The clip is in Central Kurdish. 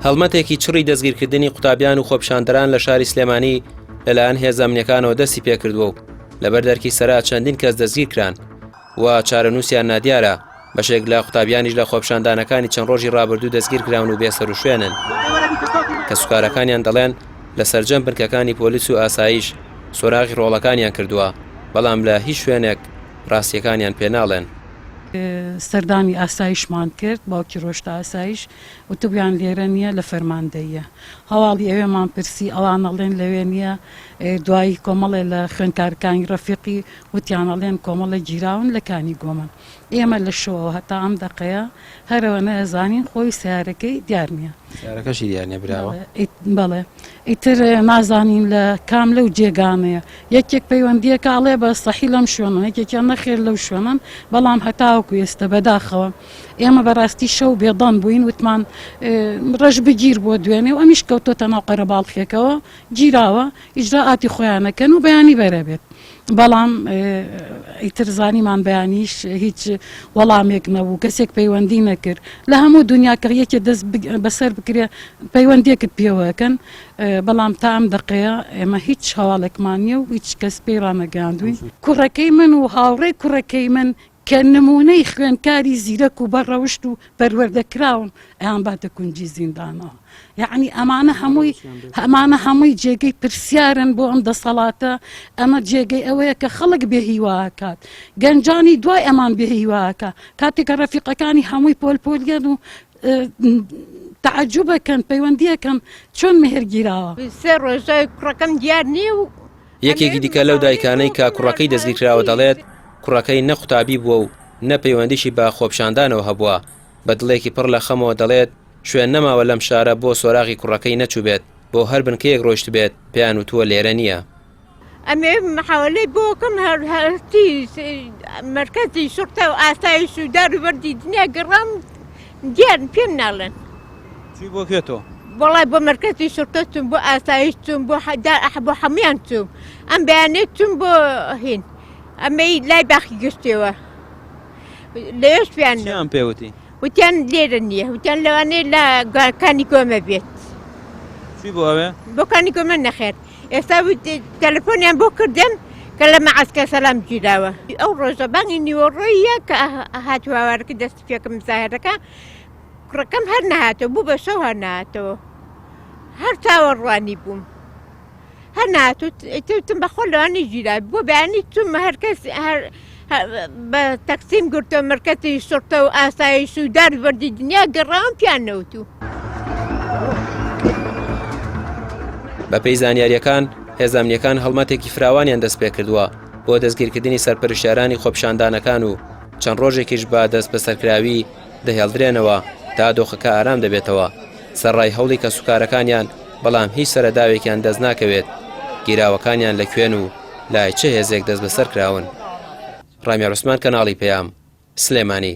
هەڵمەتێکی چڕی دەستگیرکردنی قوتابیان و خۆپشاندەران لە شاری سلێمانی لەلایەن هێزەمنیەکانەوە دەستی پێکردووە و لەبەر دەرکی سەرا چەندین کەس دەستگیرکران و چارەنووسیان نادیارە بەشێک لە قوتابیانیش لە خۆپشاندانەکانی چەند ڕۆژی ڕابردوو دەستگیرکراون و بێسەر و شوێنن کە سوکارەکانیان دەڵێن لە سرجەم بنکەکانی پۆلیس و ئاسایش سۆراغی ڕۆڵەکانیان کردووە بەڵام لە هیچ شوێنێک ڕاستیەکانیان پێناڵێن سەردانی ئاسایشمان کرد باوکی ڕۆشتە ئاسایش وتبویان لێرە نییە لە فەرماندەییە هەواڵی ئەوێمان پرسی ئەوان ئەڵێن لەوێ نییە دوایی کۆمەڵێ لە خوێنکارکانی ڕەفیقی وتیان ئەڵێن کۆمەڵە گیراون لە کانی گۆمن ئێمە لە شەوەوە هەتا ئەم دەقەیە هەرەوە نەزانین خۆی سیارەکەی دیار نییە سیارەکەشی دیار نییە براوە بەڵێ ئیتر نازانین لە کام لەو جێگانەیە یەکێک پەیوەندیەکە ئەڵێ بە سەحی لەم شوێنە یەکێکیان نەخێر لەو شوێنن بەڵام هەتاوەکو ئێستە بەداخەوە ئێمە بەڕاستی شەو بێدەنگ بووین وتمان ڕەش بگیر بۆ دوێنێ و ئەمیش کەوتۆتە ناو قەرەباڵخێکەوە گیراوە ئیجرا ئاتی خۆیانەکەن و بەیانی بەرەبێت بەڵام ئیتر زانیمان بەیانیش هیچ وەڵامێک نەبوو کەسێک پەیوەندی نەکرد لە هەموو دنیا کە یەکێ دەست بەسەر بکرێ پەیوەندێکت پێوەکەن بەڵام تا ئەم دەقەیە ئێمە هیچ هەواڵێکمان نیە و هیچ کەس پێی ڕانەگەاندوین کوڕەکەی من و هاوڕێ کوڕەکەی من کە نموونەی خوێندکاری زیرەک و بە ڕەوشت و پەروەردە کراوم ئەیان باتە کونجی زیندانەوە یەعنی ئەمانە هەمووی ئەمانە هەمووی جێگەی پرسیارن بۆ ئەم دەسەڵاتە ئەمە جێگەی ئەوەیە کە خەڵک بێ هیواکات گەنجانی دوای ئەمان بێ هیواکە کاتێکە ڕەفیقەکانی هەمووی پۆل پۆلیان و تەعەجوبەکەن پەیوەندییەکەم چۆن مێهر گیراوە سێ ڕۆژە کوڕەکەم دیار نییە و یەکێکی دیکە لەو دایکانەی کە کوڕەکەی دەستگیرکراوە دەڵێت کوڕەکەی نە قوتابی بووە و نە پەیوەندیشی بە خۆپشاندانەوە هەبووە بە دڵێکی پڕ لە خەمەوە دەڵێت شوێن نەماوە لەم شارە بۆ سۆراغی کوڕەکەی نەچووبێت بۆ هەر بنکەیەک ڕۆیشتبێت پێیان وتووە لێرە نییە. ئەمێ محاوەلەی بۆ کەم هەر هەستی مەرکەزی شڕتە و ئاسایش و دار و بەردی دنیا گەڕام دیار پێم ناڵێن چی بۆ کوێ تۆ؟ بەڵای بۆ مەرکەزی شڕتە چوم بۆ ئاسایش چوم بۆ حەدا ئەح بۆ حەمیان چوم ئەم بەیانێت چوم بۆ هین ئەمەی لای باخی گشتێەوە لەش پێیان چیان پێوتی؟ وتیان لێرە نییە وتیان لەوانەیە لە گوارکانی گۆمە بێت چی بۆ ئەوێ؟ بۆکانی گۆمە نەخێت ئێستا تەلەفۆنیان بۆ کردم کە لە مەعسکە سەلام گیراوە ئەو ڕۆژە بانگی نیوەڕۆیە کە هاتوواوارەکە دەستی پێکم زاهرەکە کوڕەکەم هەر نهاتەوە بوو بە شەو هەر نهاتەوە هەر چاوەڕوانی بووم هەر ناتوتم بەخۆ لەوانی گیرا بۆ بەیانی چوم هەرکەس بە تەکسیم گرتە مرکەتی شڕتە و ئاسایش و دار بەردی دنیا گەڕام پیان نەوتو. بەپێی زانیارییەکان، هێزامنیەکان هەڵمەتێکی فراوانیان دەستپێکردووە بۆ دەستگیرکردنی سەرپەرشتیارانی خۆپیشاندانەکان و چەند ڕۆژێکیش بە دەستبەسەرکراوی دەهێڵدرێنەوە تا دۆخەکە ئارام دەبێتەوە سەرڕای هەوڵی کەسوکارەکانیان بەڵام هیچ سەرەداوێکیان دەستناکەوێت گیراوەکانیان لە کوێن و لای چ هێزێک دەستبەسەر کراون؟ ڕامیار عوسمان کەناڵی پەیام، سلێمانی.